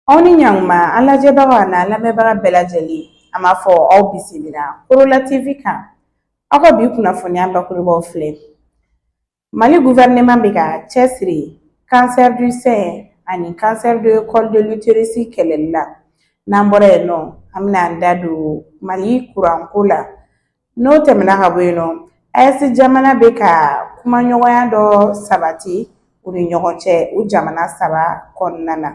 aw ni ɲankuma an lajɛbaga n'an lamɛnbaga bɛɛ lajɛlen an b'a fɔ aw bisimila korola tv kan aw ka bi kunnafoniya bakurubaw filɛ mali guvɛrɛnɛman bɛ ka cɛsiri cancer du sein ani cancer de col de l'utérus kɛlɛli la n'an bɔra yen nɔ an bɛna an da don mali kuranko la N'o tɛmɛna ka bɔ yen nɔ AES jamana bɛ ka kumaɲɔgɔnya dɔ sabati u ni ɲɔgɔn cɛ u jamana saba kɔnɔna na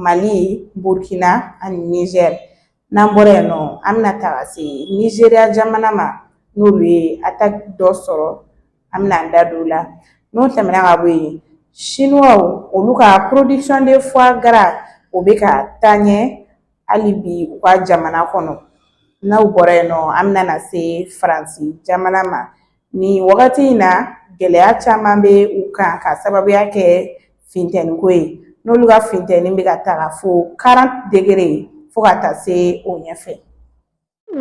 mali burkina ani nizɛri n'an bɔra yen nɔ an bɛna taga se nizeriya jamana ma n'olu ye ataki dɔ sɔrɔ an bɛna an da don o la n'o tɛmɛna ka bɔ yen siniwaw olu ka production de foie gras o bɛ ka taa ɲɛ hali bi u ka jamana kɔnɔ n'aw bɔra yen nɔ an bɛna na se faransi jamana ma nin wagati in na gɛlɛya caman bɛ u kan ka sababuya kɛ fintɛniko ye n'olu ka fintɛni bɛ ka taga fo 40 degrés fo ka taa se o ɲɛfɛ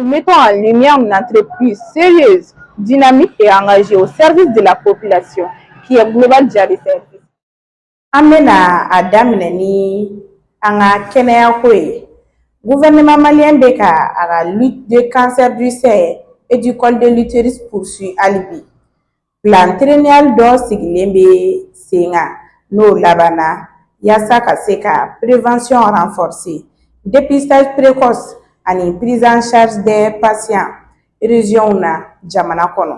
mettant en lumière une entreprise sérieuse, dynamique et engagée au service de la population, qui est Global Jari Service. An bɛna a daminɛ ni an ka kɛnɛyako ye gouvernement malien bɛ ka a ka lutte de cancer du sein et du col de l'utérus poursuit hali bi plan triennal dɔ sigilen bɛ sen kan n'o labanna yaasa ka se ka prévention renforcer dépistage précoce ani prise en charge des patients régionw na jamana kɔnɔ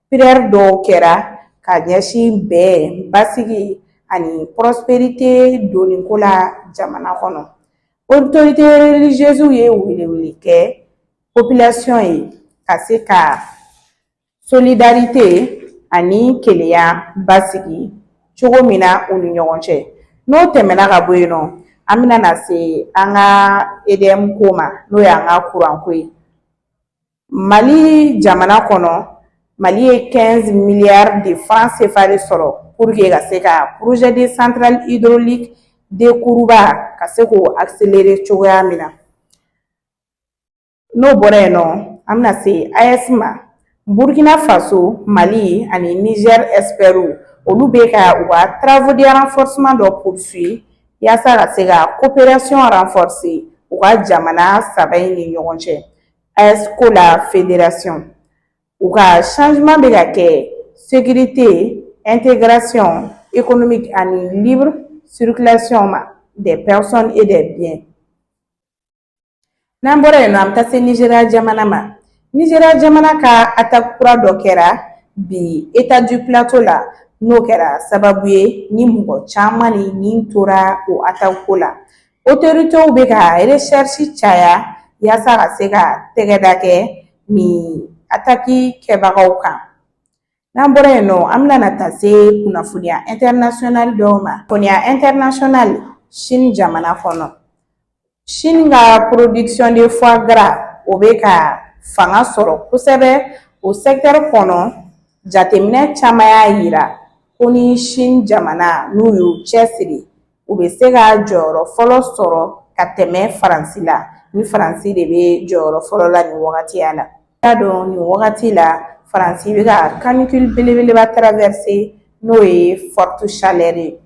Prière dɔw kɛra ka ɲɛsin bɛn basigi ani prospérité donko la jamana kɔnɔ autorité religieusew ye weleweli kɛ population ye ka se ka solidarité ani kelenya basigi cogo min na u ni ɲɔgɔn cɛ n'o tɛmɛna ka bɔ yen nɔ an bɛna na se an ka EDM ko ma n'o y'an ka kuranko ye mali jamana kɔnɔ mali ye 15 milliards de francs CFA de sɔrɔ pour que ka se ka projet de centrale hydraulique de kuruba ka se k'o accélérer cogoya min na n'o bɔra yen nɔ an bɛna se AES ma burkina faso mali ani niger espɛriw olu bɛ ka u ka travaux de renforcement dɔ poursuit yaasa ka se ka coopération renforcer u ka jamana saba in ni ɲɔgɔn cɛ ɛsko la federasiɔn u ka changement bɛ ka kɛ sécurité intégration économique ani libre circulation ma des personnes et des biens n'an bɔra yen an bɛ taa se Nizeriya jamana ma Nizeriya jamana kan ataki kura dɔ kɛra bi État du Plateau la n'o kɛra sababu ye ni mɔgɔ caman ni nin tora o ataki ko la otoritew bɛ ka resɛrisi caya yaasa ka se ka tɛgɛda kɛ nin ataki kɛbagaw kan n'an bɔra yen nɔ an bɛna taa se kunnafoniya ɛntɛrinasiyɔnali dɔw ma kunnafoniya ɛntɛrinasiyɔnali sini jamana kɔnɔ sini ka porodikisiyɔn de fuwagara o bɛ ka fanga sɔrɔ kosɛbɛ o sɛkitɛri kɔnɔ jateminɛ caman y'a yira ko ni sini jamana n'u y'u cɛsiri u bɛ se ka jɔyɔrɔ fɔlɔ sɔrɔ ka tɛmɛ faransi la ni faransi de bɛ jɔyɔrɔ fɔlɔ la nin wagatiya la k'a dɔn nin wagati la faransi bɛ ka kanikili belebeleba tarawɛrise n'o ye fɔriti salɛri ye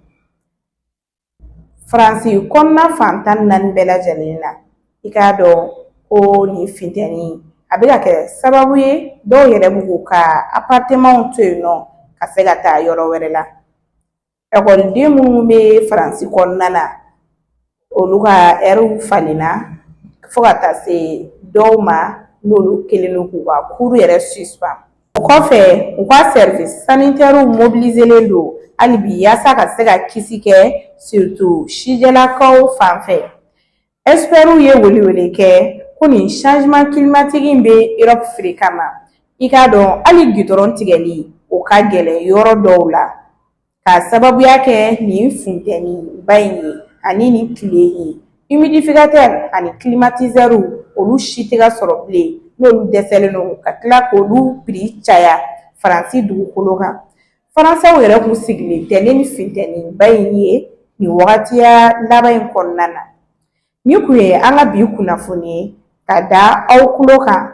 faransi kɔnɔna fantan naani bɛɛ lajɛlen na i k'a dɔn ko nin fintɛni a bɛ ka kɛ sababu ye dɔw yɛrɛ b'u ka aparitemaw to yen nɔ ka se ka taa yɔrɔ wɛrɛ la Ɛkɔliden minnu bɛ faransi kɔnɔna na olu ka ɛriw falenna fo ka taa se dɔw ma n'olu kɛlen don k'u ka kuru yɛrɛ suspend o kɔfɛ u ka service sanitaire mobiliselen don hali bi yaasa ka se ka kisi kɛ surtout sijɛlakaw fanfɛ Ɛkisipɛriw ye welewele kɛ ko nin sanzeman kilimatiki in bɛ Erɔpu feere kama ma i k'a dɔn hali gidɔrɔn tigɛli o ka gɛlɛn yɔrɔ dɔw la k'a sababuya kɛ nin funteni ba in ye ani nin tile ye imidifikatɛri ani kilimatizɛriw olu si tɛ ka sɔrɔ bilen n'olu dɛsɛlen don ka tila k'olu piri caya faransi dugukolo kan Faransɛw yɛrɛ tun sigilen tɛ ni nin fintɛninba in ye nin wagatiya laban in kɔnɔna na nin tun ye an ka bi kunnafoni ye ka da aw tulo kan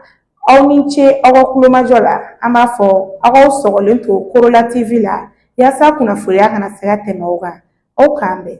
aw ni ce aw ka tulomajɔ la an b'a fɔ aw k'aw sɔgɔlen to korola TV la yaasa kunnafoniya kana se ka tɛmɛ aw kan aw k'an bɛn